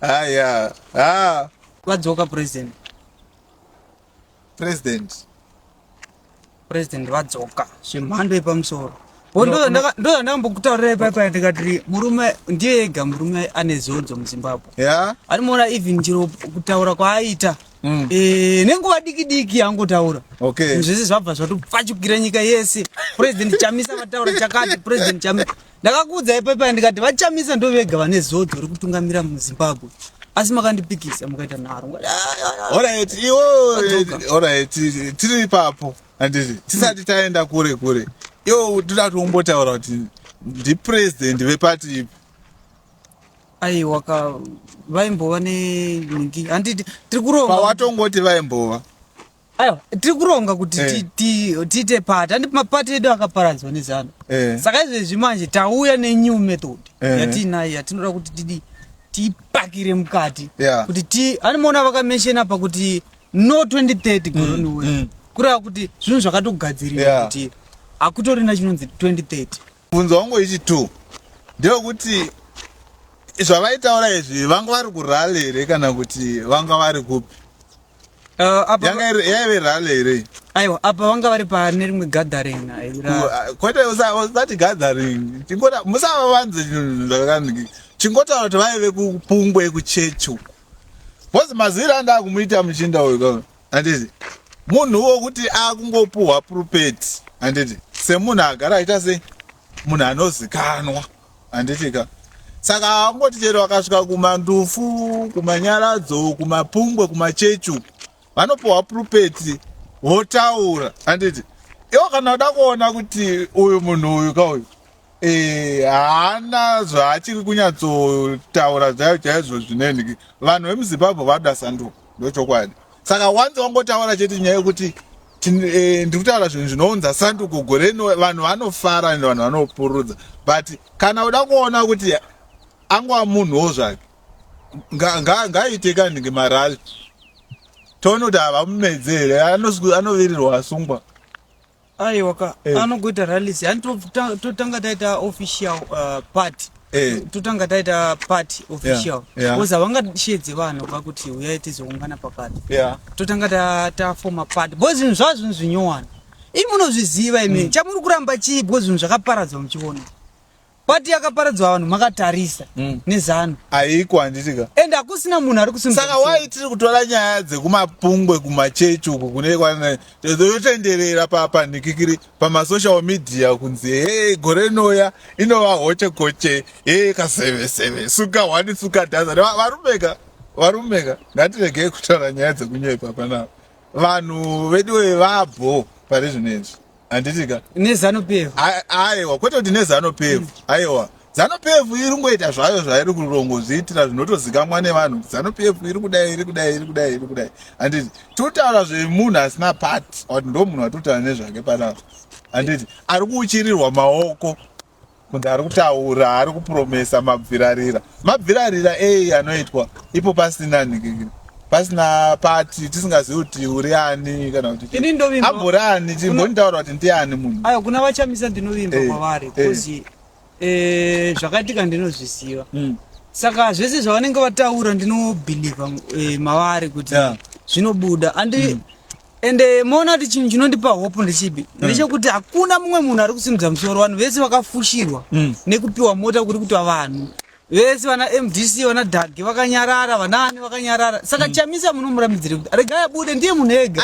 Aya. Ah. Vadzoka president. President. President vadzoka. Zvemhando yepamusoro. ndozvandakambokutaurira ipaipa ndikati murume ndiye ega murume ane zodzo muzimbabwe yeah. ari muona even chero kutaura kwaaita Mm. Eh, nenguva diki diki yangotaura okay. zvese zvabva zvatopfachukira nyika yese president chamisa vataura chakati president chamisa ndakakuudza ipaipaya ndikati vachamisa ndo vega vane zodzo ri kutungamira muzimbabwe asi makandipikisa mukaita nharo tiri ipapo anditi tisati mm. taenda kure kure iwo toda tiombotaura kuti ndipresident vepati ipi aiwa ka vaimbova nenhingi handiti tiri kuronga pawatongoti vaimbova aiwa tiri kuronga kuti Eh. ti- ti- tiite pati handi mapati edu akaparadzwa nezano Eh. saka izvezvi manje tauya nenew method Eh. yatiinayo yatinoda kuti tidi tiipakire mukati Yeah. kuti ti animoona vakamenshena apa kuti no 2030 goroni mm. kureva kuti zvinhu zvakatogadzirirwa Yeah. kuti hakutorina chinonzi 2030 Mubvunzo wangu wechitu ndewekuti zvavaitaura izvi vanga vari kurale here kana kuti vanga vari kupi uh, yanga yaive rale here aiwa apa vanga vari pane rimwe gathering uh, kwete usati gathering chingota musava vanze chinhu zvakani chingotaura kuti vaive kupungwe kuchechi uku bhozi maziviro andava kumuita muchinda uyu kava Handiti munhu wokuti akungopuhwa purupeti handiti semunhu agara aita sei munhu anozikanwa handiti ka saka haangoti chero vakasvika kumandufu kumanyaradzo kumapungwe kumachechi uku vanopuhwa purupeti votaura handiti iwo kana uda kuona kuti uyu munhu uyu ka uyu Eh, haana zvaachiri kunyatsotaura zvayo chaizvo zvinenhiki vanhu vemuzimbabwe vanoda sanduko ndochokwadi saka wanzi wangotaura chete nyaya yekuti eh, ndiri kutaura zvinhu zvinounza sanduko gore rino vanhu vanofara and vanhu vanopurudza but kana uda kuona kuti angwa munhuwo zvake ngaaite kandi ngemarali toona kuti havamumedze here anovirirwa asungwa aiwa ka Eh. anogoita rallies yani totanga to, totanga taita official uh, party Eh. totanga taita party official yeah. because havangashedzi vanhu vakuti uyai tizoungana paparty yeah totanga ta- tafoma party bo zvinhu zvava zvinhu zvinyowani imi munozviziva imi chamuri kuramba chii bo zvinhu zvakaparadzwa muchiona Pati yakaparadzwa vanhu makatarisa mm. nezano aiko handitika and hakusina munhu ari kusimba saka wai tiri kutora nyaya dzekumapungwe kumachechi uku kune yotenderera papanikikiri pamasocial media kunzi he gore noya inova hoche koche he kaseveseve suka hwani suka dhaza varumeka varumeka ngatiregei kutaura nyaya dzekunyepa panapa vanhu veduwe vabho pari zvino izvi handiti ka nezano pevu aiwa kwete kuti nezano pevu aiwa zano pevu iri kungoita zvayo zvairi kurongozviitira zvinotozikamwa nevanhu kuti zano pevu iri kudai iri kudai iri kudai iri kudai handiti totaura zvemunhu asina pat kuti ndo munhu atotara nezvake panapa handiti ari kuuchirirwa maoko Munhu ari kutaura ari kupromesa mabvirarira. Mabvirarira eyi anoitwa ipo pasina nhikikiri. Pasina pati tisingazivi kuti uri ani kana kuti Ini ndovimba. ambori ani timbonitaura kuti ndiani munhu. Ayo kuna vachamisa ndinovimba Eh, kwavari eh. because eh, zvakaitika ndinozviziva. Mm. Saka zvese zvavanenge vataura ndinobhilivha eh, mavari kuti Yeah. zvinobuda and and eh, moona kuti chinhu chinondipa hope ndechipi mm. ndechekuti hakuna mumwe munhu ari kusimudza musoro vanhu vese vakafushirwa mm. nekupiwa mota kuri kutwa vanhu vese vana mdc vana dage vakanyarara vanaani vakanyarara saka mm. chamisa munomuramidzire kuti regai abude ndiye munhu ega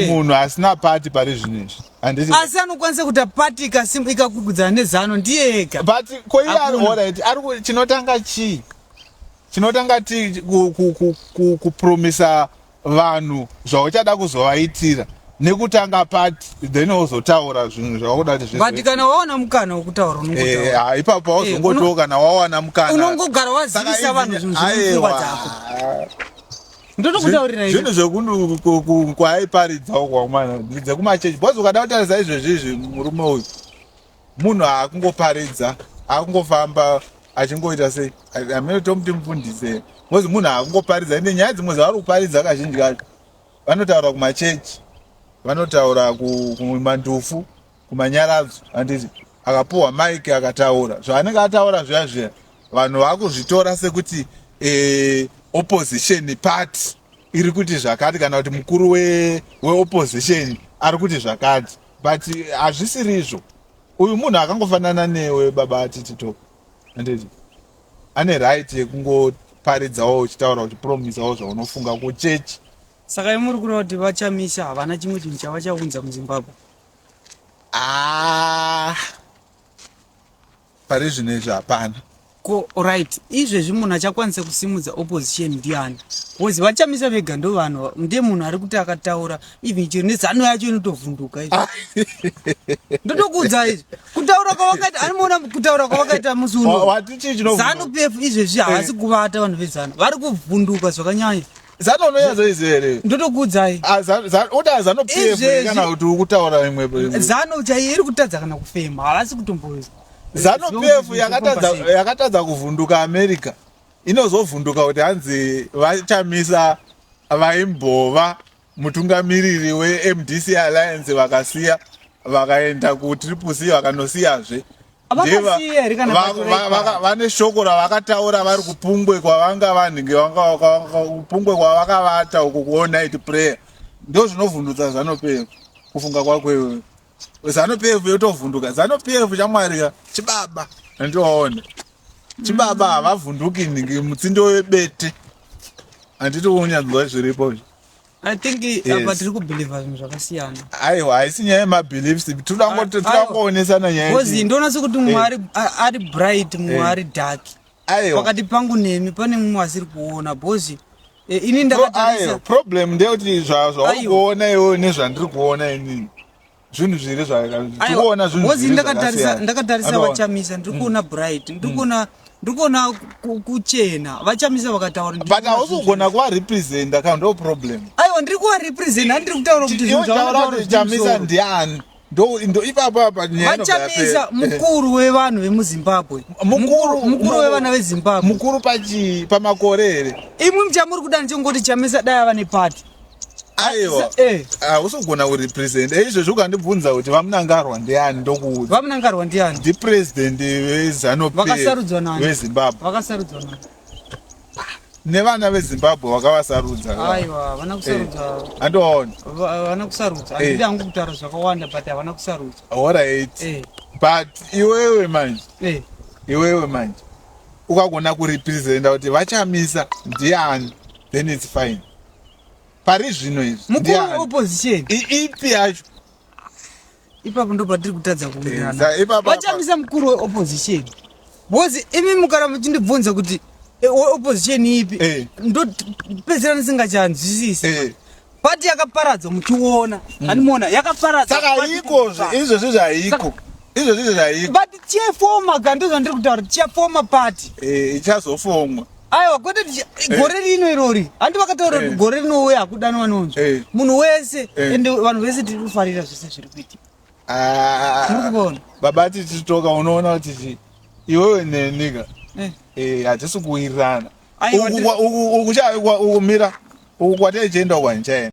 munhu eh. asina pati pari zvinhu izvi asi anokwanisa kuita pati ikakugudzana nezano ndiye ega but koiye ari orit ari chinotanga chii Tinotanga ti ku, ku, ku, ku, kupromisa vanhu zvauchada kuzovaitira nekutanga pati then wozotaura zvinhu zvaukuda kuti but zvizoita. kana wawana mukana wekutaura Eh, unongotaura ha, ipapo Eh, pauzongotiwo uno- kana wawana mukana unongogara Saka wazivisa izvi- vanhu zvinhu zviri mupfungwa Aiwa. dzako ndotokutaurira zvinhu izvi zvekundu ku- ku- kwaaiparidzawo kwamwana dzekumachechi bhozi ukada kutarisa izvezvi izvi murume uyu Munhu haakungoparidza akungofamba achingoita sei amene tomuti mufundise bcause munhu haakungoparidza ende nyaya dzimwe dzavari kuparidza kazhinji kacho vanotaura kumachechi vanotaura kumandufu kumanyaradzo anditi akapuhwa mike akataura zvaanenge ataura zviya zviya vanhu vakuzvitora sekuti e, opposition party iri kuti zvakati kana kuti mukuru weopposition we ari kuti zvakati but hazvisirizvo uyu munhu akangofanana newe baba atitito anditi ane right yekungoparidzawo uchitaura uchipromisawo zvaunofunga kuchechi saka imuri kureva kuti vachamisa havana chimwe chinhu chavachaunza muzimbabwe ah. Pari zvino izvi hapana. Ko right izvezvi munhu achakwanisa kusimudza opposition ndiani bcause vachamisa vega ndovanhu ndiye munhu ari kuti akataura even chero nezano yacho inotovhunduka izvi ah. ndotokuudza izvi kutaura kwavakaita animoona kutaura kwavakaita musi uno zanu pf izvezvi eh. havasi kuvata vanhu vezano vari kuvhunduka zvakanyanya Zanu unoyaza izvi here? Ndotokuudzai. Ah, zanu, zanu, uda zanu PF kana kuti ukutaura imwe imwe. Zanu chaiye iri kutadza kana kufema, havasi kutomboza. Zanu PF yakatadza yakatadza kuvhunduka America. Inozovhunduka kuti hanzi vachamisa vaimbova mutungamiriri weMDC Alliance vakasiya vakaenda kuTriple C vakanosiyazve. vane shoko ravakataura vari kupungwe kwavanga vanhinge kupungwe kwavakavata uko kuonit prayer ndo zvinovhundutsa zvanopera kufunga kwako iwe zanopf yotovhunduka zanopf chamwari ka chibaba andiwaona chibaba mm. havavhunduki nhingi mutsindo webete handiti unyanzwa zviripo I think yes. apa tiri kubelieve zvinhu zvakasiyana. Aiwa haisi nyaya yemabeliefs tinoda ah, kungoonesana nyaya. Kozi ndoona sekuti mumwe eh. ari ari bright mumwe eh. ari dark. Aiwa. Pakati pangu nemi pane mumwe asiri kuona bozi. E, eh, ini ndakatarisa. Problem ndeyekuti zvauri kuona iwewe nezvandiri kuona inini. zvinhu zviri zvakuona zvinhuozi ndakatarisa ndakatarisa vachamisa ndiri kuona mm. bright ndiri mm. kuona ndiri kuona kuchena vachamisa vakataura but hausi kugona kuva representa ka ndo problem aiwa ndiri kuva representa andiri kutaura kuti zvinhu zvataura kuti chamisa ndiani vachamisa mukuru wevanhu vemuzimbabwe mukuru wevana vezimbabwe mukuru pamakore here imwi muchamuri kuda ndichongoti chamisa dai ava nepati aiwa hausogona uri president eizvezvi ukandibvunza kuti vamunangarwa ndiani ndokuudza vamunangarwa ndiani ndipresident vezanupvezimbabwe vakasarudzwa nani nevana vezimbabwe vakavasarudza aiwa vana kusarudzwa eh, andoona vana kusarudzwa eh. andidi hangu kutaura zvakawanda but havana kusarudzwa horait eh. but iwewe manje iwewe manje ukagona kurepresenta kuti vachamisa ndiani then its fine pari zvino izviipi yacho ipapo ndo patiri kutadza kuiranavachamisa eh, mukuru weopposition bcause imi mukara muchindibvunza kuti eh, opposition ipi eh. ndopedzera ndisingachanzwisisi pati yakaparadzwa muchiona mm. animoona yakaparadzwa saka iko izvozvi zvaiko izvozvi izvo zvaiko but chefoma ka ndizvo ndiri kutaura kuti chefoma pati eh, ichazofomwa aiwa kwete eh. gore rino irori handi vakataura kuti eh. gore rinouya hakudani vanonzwa munhu wese ende vanhu vese tiri kufarira zvese zviri kuitika ah. tiri kuvona baba tichitoka unoona kuti iwewe nenika hatisi kuwirirana Uku kwa- uku- uku cha- uku- uku mira uku kwataichienda uku handichaenda